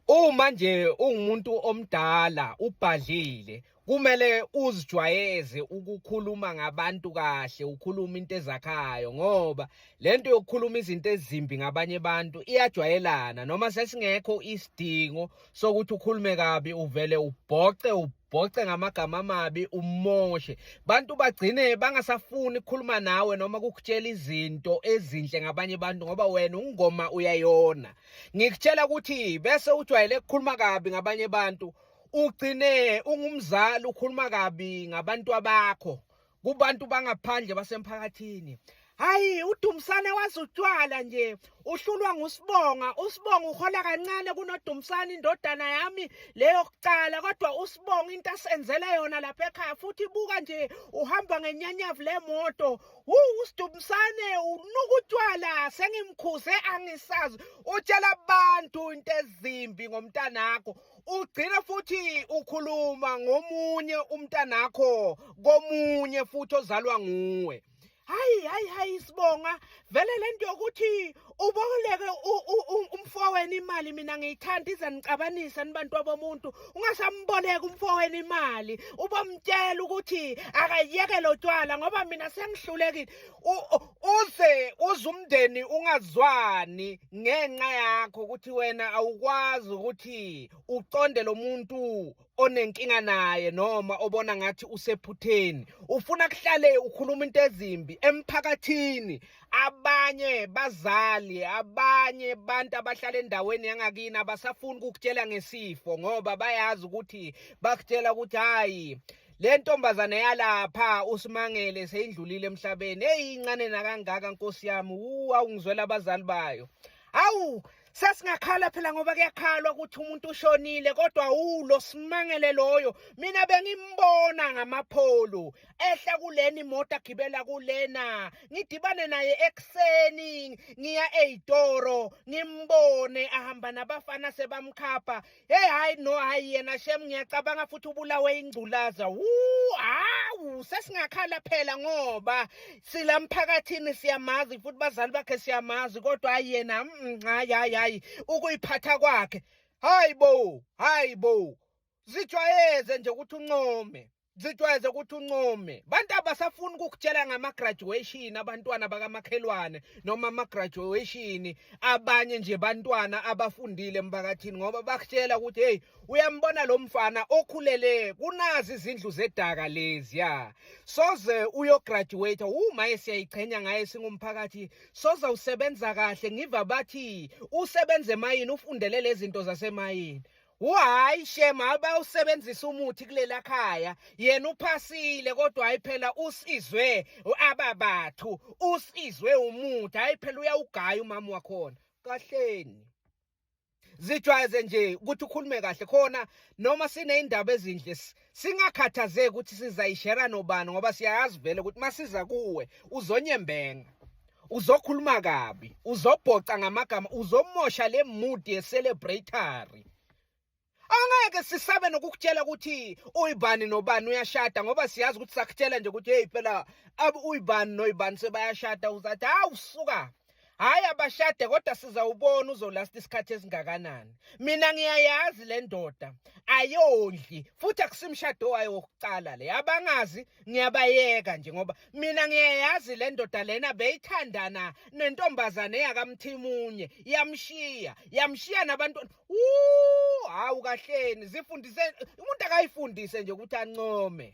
Uma nje ungumuntu omdala ubhadlile kumele uzijwayeze ukukhuluma ngabantu kahle ukhuluma into ezakhayo ngoba lento yokukhuluma izinto ezimbi ngabanye abantu iyajwayelana noma sesingekho isidingo sokuthi ukhulume kabi uvele ubhoce ubhoce ngamagama amabi umoshe bantu bagcine bangasafuni ukukhuluma nawe noma kukutshela izinto ezinhle ngabanye abantu ngoba wena ungoma uyayona ngikutshela ukuthi bese ujwayele ukukhuluma kabi ngabanye abantu ugcine ungumzali ukhuluma kabi ngabantu abakho kubantu bangaphandle basemphakathini hayi udumsane wazi utshwala nje uhlulwa ngusibonga usibonga uhola kancane kunodumsane indodana yami leyo kucala kodwa usibonga into asenzele yona lapha ekhaya futhi buka nje uhamba ngenyanyavu lemoto wu usidumsane unuka utshwala sengimkhuze angisazi utshela abantu into ezimbi ngomntanakho ugcine futhi ukhuluma ngomunye umntanakho komunye futhi ozalwa nguwe hayi hayi hayi sibonga vele lento yokuthi uboleke umfowenu imali mina ngiyithanda ize nicabanisa nibantu abomuntu ungasamboleka umfowenu imali ubomtshela ukuthi akayeke lo tywala ngoba mina sengihlulekile uze uze umndeni ungazwani ngenxa yakho ukuthi wena awukwazi ukuthi uconde lo muntu onenkinga naye noma obona ngathi usephutheni ufuna kuhlale ukhuluma into ezimbi emphakathini abanye bazali abanye abantu abahlala endaweni yangakini abasafuni ukukutshela ngesifo ngoba bayazi ukuthi bakutshela ukuthi hayi le ntombazane yalapha usimangele seyindlulile emhlabeni eyi incane nakangaka nkosi yami wu awungizwela abazali bayo awu sesingakhala phela ngoba kuyakhalwa ukuthi umuntu ushonile kodwa ulo simangele loyo mina bengimbona ngamapholo ehla kuleni moto agibela kulena ngidibane naye ekuseni ngiya eyitoro ngimbone ahamba nabafana sebamkhapha Hey hayi no hayi yena shem ngiyacabanga futhi ubulawe ingculaza. Wuu hawu sesingakhala phela ngoba sila mphakathini siyamazi futhi bazali bakhe siyamazi kodwa hayi yena mm, hayi hayi hayi ukuyiphatha kwakhe. Hayi bo, hayi bo. Zijwayeze nje ukuthi uncome. zijwayeze ukuthi uncome bantu abasafuni ukukutshela ngama-graduation abantwana bakamakhelwane noma ama-graduation abanye nje bantwana abafundile emphakathini ngoba bakutshela ukuthi heyi uyambona lo mfana okhulele kunazi izindlu zedaka leziya soze uyograduate wumaye siyayichenya ngaye singumphakathi soze usebenza kahle ngiva bathi usebenze emayini ufundele lezi zinto zasemayini Uhayi shema abe usebenzisa umuthi kulela khaya yena uphasile kodwa hayi phela usizwe ababathu usizwe umuthi hayi phela uyawugaya umama wakhona kahleni zijwayeze nje ukuthi ukhulume kahle khona noma sineindaba ezinhle singakhathazeki ukuthi sizayishera nobani ngoba siyayazi vele ukuthi masiza kuwe uzonyembenga uzokhuluma kabi uzobhoca ngamagama uzomosha le mood ye celebratory angeke sisabe nokukutshela ukuthi uyibani nobani uyashada ngoba siyazi ukuthi sakutshela nje ukuthi hey phela uyibani noyibani sebayashada uzathi hawu suka Hayi abashade kodwa sizawubona uzolasta isikhathi esingakanani. Mina ngiyayazi le ndoda ayondli futhi akusimshado wayo wokuqala le. Abangazi ngiyabayeka nje ngoba mina ngiyayazi le ndoda lena beyithandana nentombazane yakamthimunye yamshiya yamshiya nabantu Woo hawu kahleni zifundise umuntu akayifundise nje ukuthi ancome.